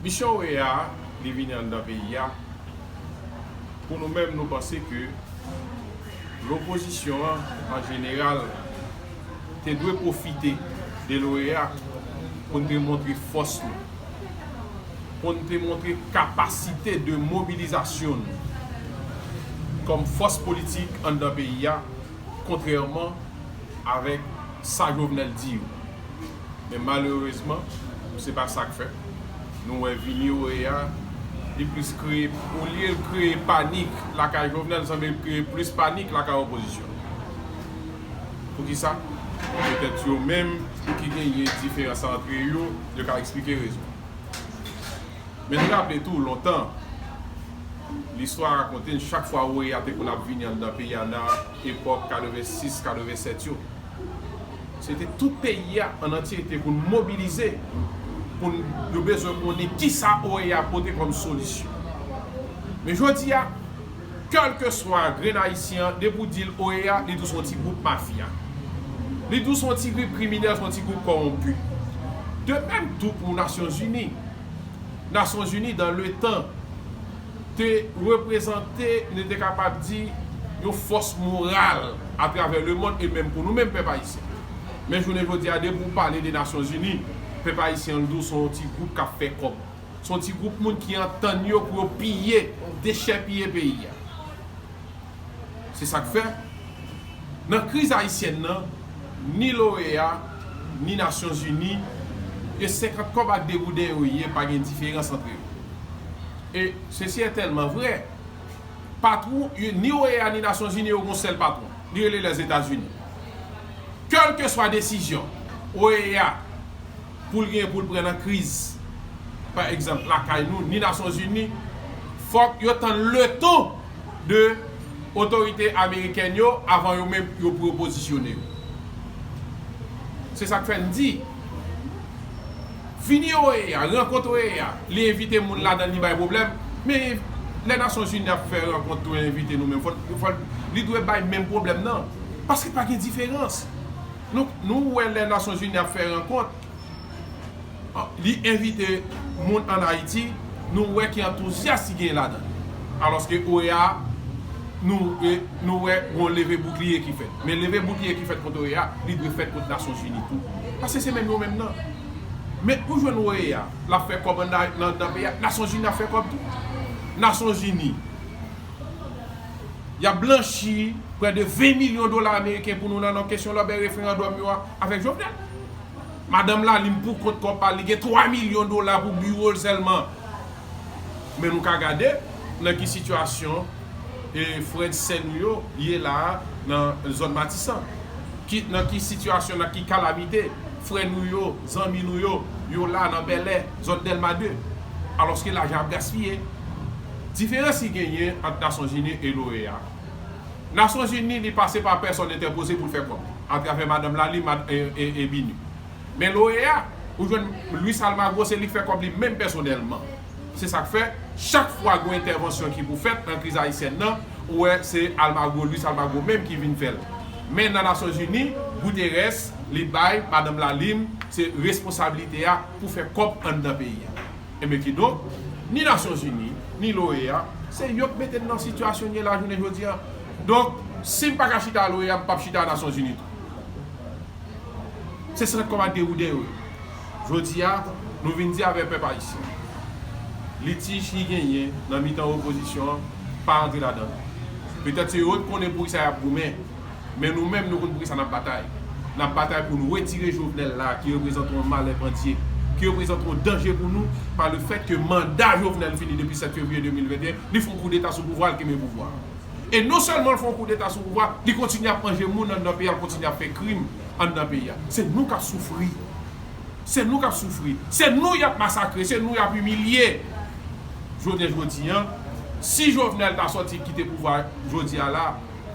Misyon OEA a li vini anndan peyi a pou nou menm nou panse ke lopozisyon an an jeneral te dwe pwofite de l'OEA pou n te montre fòs nou, pou n te montre kapasite de mobilizasyon nou kòm fòs politik anndan peyi a kontrèman avèk sa Jovenel di yo. Men malerezman, se pa sa k fèt. Nou wè vini yo ye a, li plis kreye, olye l kreye panik lakay Jovenel, sanble l kreye plis panik lakay opozisyon an. Pou ki sa? Petèt yo menm ki genyen diferans antre yo, yo ka eksplike rezon an. Men nou raple tou, lontan, listwa rakonte n, chak fwa OEA te konn ap vini anndan peyi a nan epòk 86, 87 yo, Se te tout peyi a an antyete pou n mobilize, pou n yo bezwen konnen ki sa OEA pote kòm solisyon. Men jodi a, kèlkeswa grenn Ayisyen an, depi ou di l OEA, li di w se yon ti gwoup mafya. Li di w se yon ti gwoup kriminèl, se yon ti gwoup kòwonpi. De mèm tou pou Nasyonzini. Nasyonzini dan le tan. te reprezante, nou te kapab di, yon fòs moral atravè lemonn e menm pou nou menm pèp ayisyen. Men jounen jodi a, depi ou pale de Nasyonzini, pèp ayisyen an di w se yon ti gwoup k ap fè kòb. Se yon ti gwoup moun ki antann yo pou yo piye, dechèpiye peyi a. Se sa k fè, nan kriz ayisyèn nan, ni l'OEA, ni Nasyon Zini, ke senkant kòb ak degouden yo ye, pa gen diferans antre yo. E, sesi è tèlman vrè, patwon, ni OEA ni Nasyon Zini yo gen yon sèl patwon, li rele Lèzetazini. Kèlkeswa desizyon OEA, Poul gen poul pran nan kriz pa egzanp lakay nou ni nasyonzini fòk yo tann leton de otorite amerikèn yo avan yo menm yo pou yo pozisyone yo se sak fè n di vini oea rankont oea li envite moun ladan li bay pwoblèm men lè nasyonzini ap fè rankont tou envite nou menm fòl li dwe bay menm pwoblèm nan paske pa gen diferans. Nou wè lè Nasyon Zini ap fè rankont, li envite moun an Ayiti, nou wè ki antouzyas ki genyen ladan l. Alòske OEA, nou wè gon leve boukliye ki fèt. Men leve boukliye ki fèt kont OEA, li dwe fèt kont Nasyon Zini tou. Paske se menm yo menm nan. Men ou jwenn OEA, l ap fè kòb anndan peyi a, Nasyon Zini ap fè kòb tou. Nasyon Zini. Y ap blanchi prè de 20 milyon dola ameriken pou nou nan nan kesyon lòbèy referandòm yo a avèk Jovenel. Madanm Lalime pou kont kò pa li gen 3 milyon dola pou biwo l sèlman. Men nou ka gade nan ki sitiyasyon frè n sè nou yo ye la a nan zòn Matisan. Ki nan ki sitiyasyon nan ki kalamite frè nou yo, zanmi nou yo, yo la nan Bèlè, zòn Dèlma 2. Alòske lajan ap gaspiye. Diferans ki genyen ant Nasyonzini e l'OEA. Nasyonzini li pase pa pèsòn entèpoze pou l fè kòb, atravè madanm la li Mad e Bini. Men l'OEA, ou jwenn Luis Almagro se li k fè kòb li menm pèsonèlman. Se sa k fè, chak fwa gen yon entèvansyon ki pou fèt nan kriz ayisyèn nan, ou wè se Almagro, Luis Almagro menm ki vin fè l. Men nan Nasyonzini, Guterres li bay madanm la li se responsabilite a pou fè kòb anndan peyi a. Enben kidonk, ni Nasyon Zini, ni l'OEA, se yo k mete n nan sitiyasyon n ye la jounen jodi a. Donk, si m pa ka chita a l'OEA, m p ap chita a Nasyon Zini tou. Se sant kòm ak dewouden yo ye. Jodi a, nou vin di avè pèp ayisyen, litij ki genyen nan mitan opozisyon an pa rantre ladan l. Petèt se yo k konnen poukisa y ap goumen. Men nou menm nou konn pou kisa nap batay. Nap batay pou nou retire Jovenel la ki reprezante yon malè pou Antye. Ki reprezante yon danje pou nou pa le fèt ke manda Jovenel fini depi 7 fevriye 2021, li fon koudeta sou pouvwa al kenbe pouvwa. E non sèlman l fon koudeta sou pouvwa, li kontinye ap manje moun anndan peyi a, l kontinye ap fè krim anndan peyi a. Se nou kap soufri. Se nou kap soufri. Se nou yap masakre, se nou yap imilye. Jounen jodi an, si Jovenel ta sòti kite pouvwa jodi a la,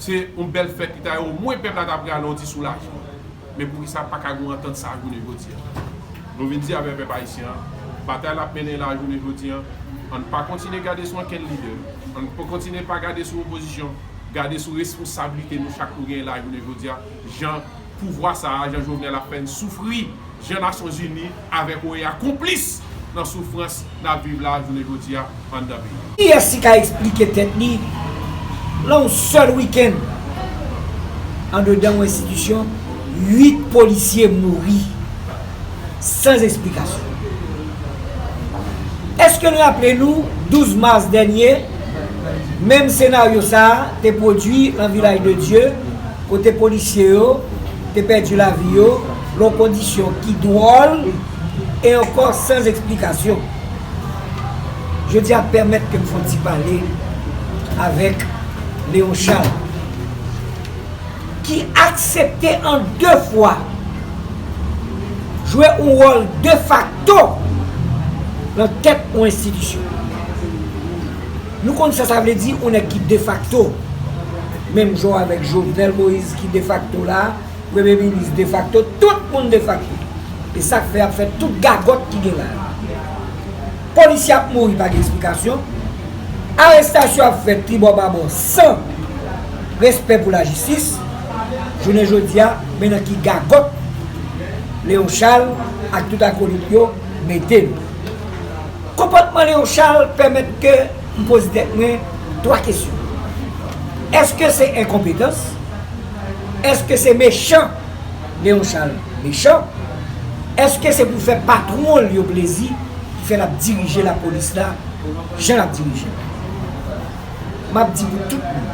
Se yon bèl fèt li ta ye omwen pèp la ta prale yon ti soulajman. Men poukisa paka gen yon antant sa jounen jodi an? Nou vin di avè pèp ayisyen an, batay lap mennen la jounen jodi an, ann pa kontinye gade sou ankenn lidè, ann pa kontinye pa gade sou opozisyon, gade sou responsablite nou chak nou genyen la jounen jodi a, jan. Pouvwa sa a Jan Jovenel ap fè n soufri Jan Nasyon Zini avèk OEA konplis nan soufrans n ap viv la jounen jodi a anndan peyi a. Kiyès ki ka eksplike tèt li lan yon sèl wikenn andedan yon enstitisyon 8 polisye mouri. sans esplikasyon. Eske n raple nou 12 mas dènye, menm senaryo sa a te pwodui nan Vilaj de Dye kote polisye yo te pèdi lavi yo nan kondisyon ki dwòl e ankò sans esplikasyon. Jodi a pèmèt ke m fon ti pale avèk Léon Charles. Ki aksepte an de fwa jwe yon wòl defakto nan tèt yon enstitisyon. Nou konn sa sa vle di yon nèg ki defakto. Menm jan avèk Jovenel Moïse ki defakto la, premye minis defakto, tout moun defakto. E sa k fè y ap fè tout gagòt ki gen la a. Polisye ap mouri pa gen esplikasyon, arestasyon ap fèt tribò babò san respè pou lajistis, jounen jodi a men nan ki gagòt Léon Charles ak tout akolit yo mete n. Konpòtman Léon Charles pèmèt ke m poze tèt mwen 3 kesyon, èske se enkonpetans? Èske se mechan? Gen yon chal mechan. Eske se pou fè patwon l yo plezi ki fè l ap dirije lapolis la jan l ap dirije l? M ap di pou tout moun.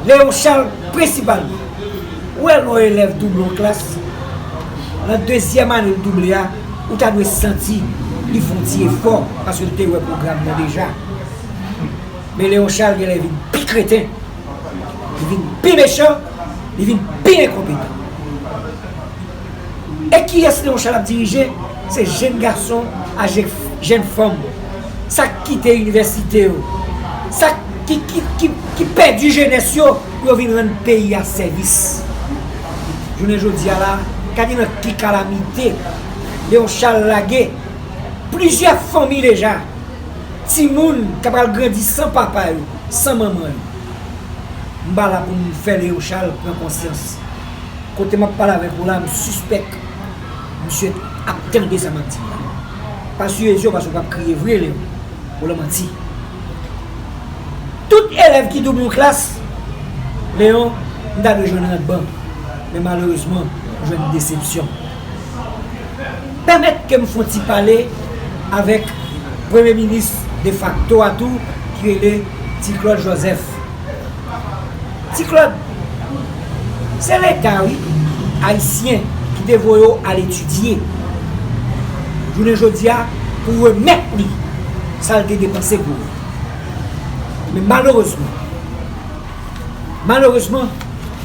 Leon Charles prensipalman. Ou wè lè yon elèv double yon klas, nan dezyèm ane l double a, ou ta dwe santi li fè yon ti efò paske l te wè pwogram nan deja. Men Leon Charles genlè vin pi kreten. Li vin pi mechan, li vin pi enkonpetan. E kiyès Leonchal ap dirije? Se jenn gason a jenn fanm. Sa k kite inivèsite yo. Sa ki pèdi jenès yo pou yo vin rann peyi a sèvis. Jounen jodi a la, gade nan ki kalamite Leonchal lage plizyè fanmi deja. Timoun k ap pral grandi san papa yo. San manman li. M pa la pou m fè Leochal pran konsyans. Kote m ap pale avèk ou la, m sispèk misye ap tande sa m ap di l la. Pa siye je w paske w pap kriye vre, Leo. Ou lan manti. Tout elèv ki double yon klas, Leo, m ta dwe jwenn rank ban. Men malerezman, m jwenn desepsyon. Pèmèt ke m fon ti pale avèk premye minis defakto a tou ki rele Ti Klod Jozèf. Ti Klod, se leta wi ayisyen ki te voye w al etidye. Jounen jodi a pou w remèt li sa l te depanse pou ou. Men malerezman, malerezman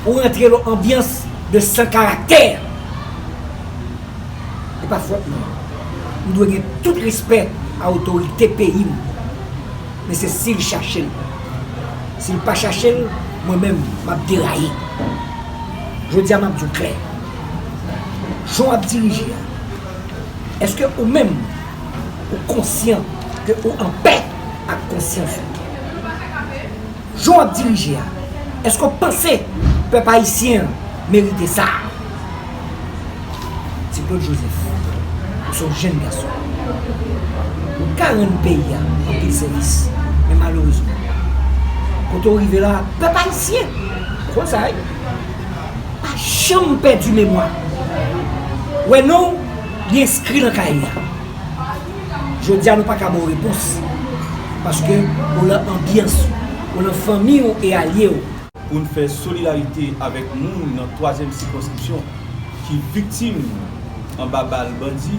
ou rantre l on anbyans de san karaktè. E pa fòt mwen. M dwe gen tout respè a otorite peyi m. Men se si l chache l. Si l pa chache l, mwen menm m ap deraye. Jodi a m ap di w klè. Jan w ap dirije a, èske ou menm ou konsyan ke ou anpè ak konsyans ou? Jan w ap dirije a, èske w panse pèp ayisyen an merite sa? Ti Klod Jozèf, Ou se yon jenn gason. Ou t ka rann peyi a anpil sèvis. Men malerezman, kote w rive la a, pèp ayisyen, ou konn sa wi, pa janm pèdi memwa. Wè non w, li enskri nan kaye a. Jodi a nou paka ba w repons paske ou lan anbyans ou, ou lan fanmi w e alye w. Pou n fè solidarite avèk moun nan twazyèm sikonskripsyon ki viktim anba bal bandi,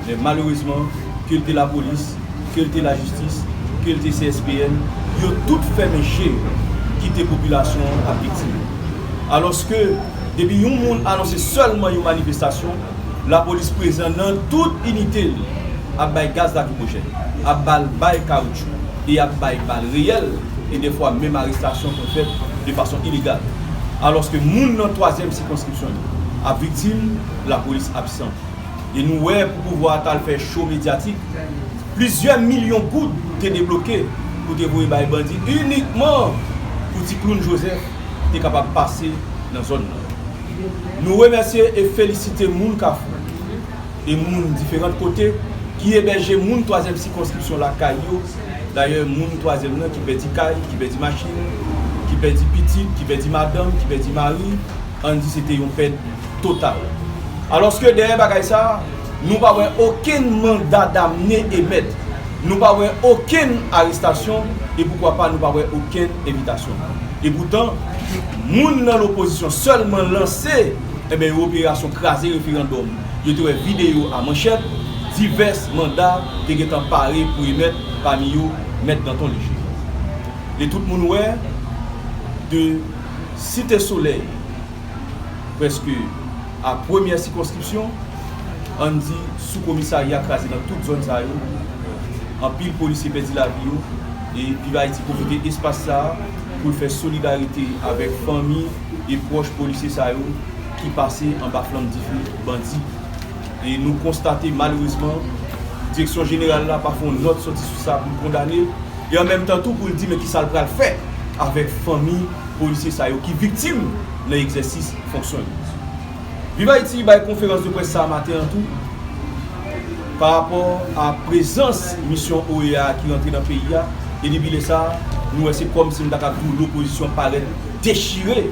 men malerezman ke l te lapolis, ke l te lajistis, ke l te CSPN, yo tout fèmen je yo kite popilasyon an ap viktim. Alòske depi yon moun anonse sèlman yon manifestasyon, Lapolis prezan nan tout inite l, ap bay gaz lakrimojen, ap ba l bay kawoutchou e ap bay bal reyèl e dèfwa menm arestasyon konn fèt de fason ilegal. Alòske moun nan twazyèm sikonskripsyon yo ap viktim, lapolis absan. E nou wè pou pouvwa a t al fè cho medyatik, plizyè milyon goud te debloke pou te voye bay bandi inikman pou ti kloun Jozèf te kapab pase nan zòn nan. Nou remèsye e felisite moun Kafou e moun diferant kote ki ebèje moun twazyèm sikonskripsyon lakay yo, dayè moun twazyèm nan ki pèdi kay, ki pèdi machin, ki pèdi pitit, ki pèdi madanm, ki pèdi mari, ann di se te yon pèt total. Alòske dèyè bagay sa. Nou pa wè okenn manda damne emèt, nou pa wè okenn arestasyon e poukwa pa nou pa wè okenn envitasyon. Epoutan, moun nan lopozisyon sèlman lanse enben yon operasyon kraze referandòm yo te wè videyo a manchèt, divès manda te gentan pare pou emèt pami yo Mèt Danton Lejire. E tout moun wè de Site Solèy prèske. A Premyè sikonskripsyon, ann di sou komisarya kraze nan tout zòn sa yo, anpil polisye pèdi lavi yo e Viv Ayiti pwofite espas sa a pou l fè solidarite avèk fanmi e pwòch polisye sa yo ki pase anba flanm dife bandi e nou konstate malerezman Direksyon Jeneral la pa fè yon nòt sòti sou sa pou l kondane e an menm tan tou pou l di men kisa l pral fè avèk fanmi polisye sa yo ki viktim. nan egzèsis fonksyon li. Viv Ayiti bay konferans de près sa maten an tou pa rapò a prezans misyon OEA a ki rantre nan peyi a e depi lè sa nou wè se kòmsi m ta kab di w lopozisyon parèt dechire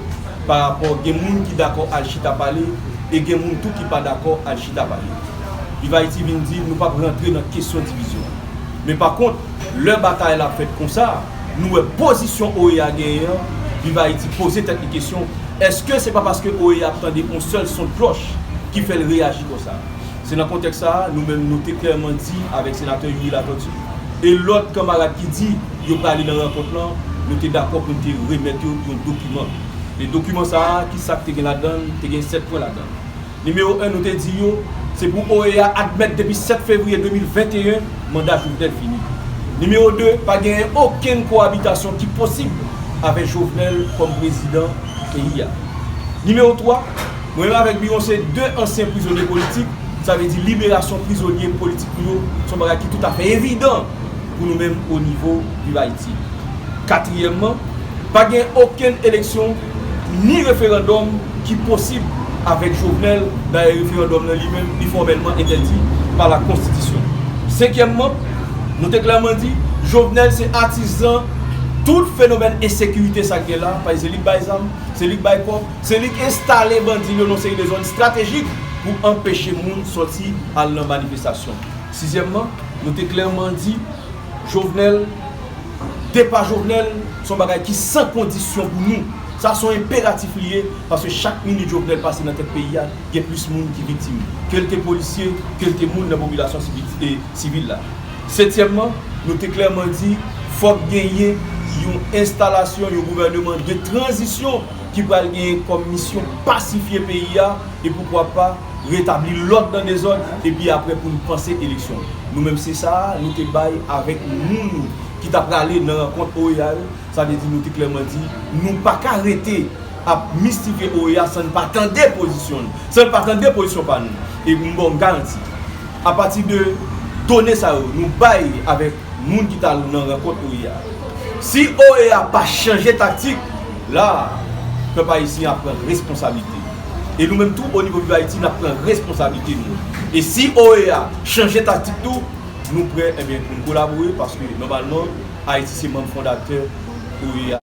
pa rapò gen moun ki dakò al chita pale e gen moun tou ki pa dakò al chita pale. Viv Ayiti vin di nou p ap rantre nan kesyon divizyon men pa kont lè batay la fèt konsa, Nou wè pozisyon OEA genyen an, Viv Ayiti poze tèt li kesyon, èske se pa paske OEA ap tande yon sèl son de klòch ki fè l reyaji konsa? Se nan kontèks sa a, nou menm nou te klèman di avèk Senatè Youri Latortue e lòt kanmarad ki di yo prale nan rankont lan, nou te dakò pou n te remèt yo yon dokiman. E dokiman sa a, ki sa k te gen ladan l? Te gen 7 pwen ladan l. Nimewo 1, nou te di yo, se pou OEA admèt depi 7 fevriye 2021, manda Jovenel fini. Nimewo 2, pa genyen okenn kowabitasyon ki posib avè Jovenel kòm prezidan peyi a. Nimewo 3, mwen menm avèk Biron se 2 ansyen prizonye politik, sa vle di liberasyon prizonye politik nou yo se yon bagay ki toutafè evidan pou nou menm onivo Viv Ayiti. Katriyèmman, pa genyen okenn eleksyon Ni referandòm ki posib avèk Jovenel, dayè referandòm nan li menm li fòmèlman entèdi pa la konstitisyon. Senkyèmman, nou te klèman di, Jovenel se atizan tout fenomèn ensekirite sa k gen la, paske se li k bay zam, se li k bay kòb, se li k enstale bandi l yo nan yon seri de zòn estratejik pou anpeche moun sòti al nan manifestasyon. Sizyèmman, nou te klèman di. Jovenel, depa Jovenel se yon bagay ki san kondisyon pou nou. Sa se yon enperatif li ye, paske chak minit Jovenel pase nan tèt peyi a, gen plis moun ki viktim. Ke l te polisye, ke l te moun nan popilasyon sivil la. Setyèmman, nou te klèman di, fòk genyen yon enstalasyon yon gouvèneman de tranzisyon ki pral genyen kòm misyon pasifye peyi a, e poukwa pa, retabli lòd nan dezòd epi aprè pou n panse eleksyon. Nou menm se sa a nou te bay avèk moun ki ta prale nan rankont OEA yo, sa vle di nou te klèman di nou pa ka rete ap mistifye OEA san n pa tande pozisyon n, san n pa tande pozisyon pa nou. E m ba w garanti, apati de done sa yo nou bay avèk. moun ki ta nan rankont OEA a. Si OEA pa chanje taktik, la, pèp ayisyen ap pran responsabilite. E nou menm tou, onivo Viv Ayiti, n ap pran responsabilite nou. E si OEA chanje taktik tou, nou prè, enben, pou n kolabore, paske, nòmalman, Ayiti se manm fondatè OEA.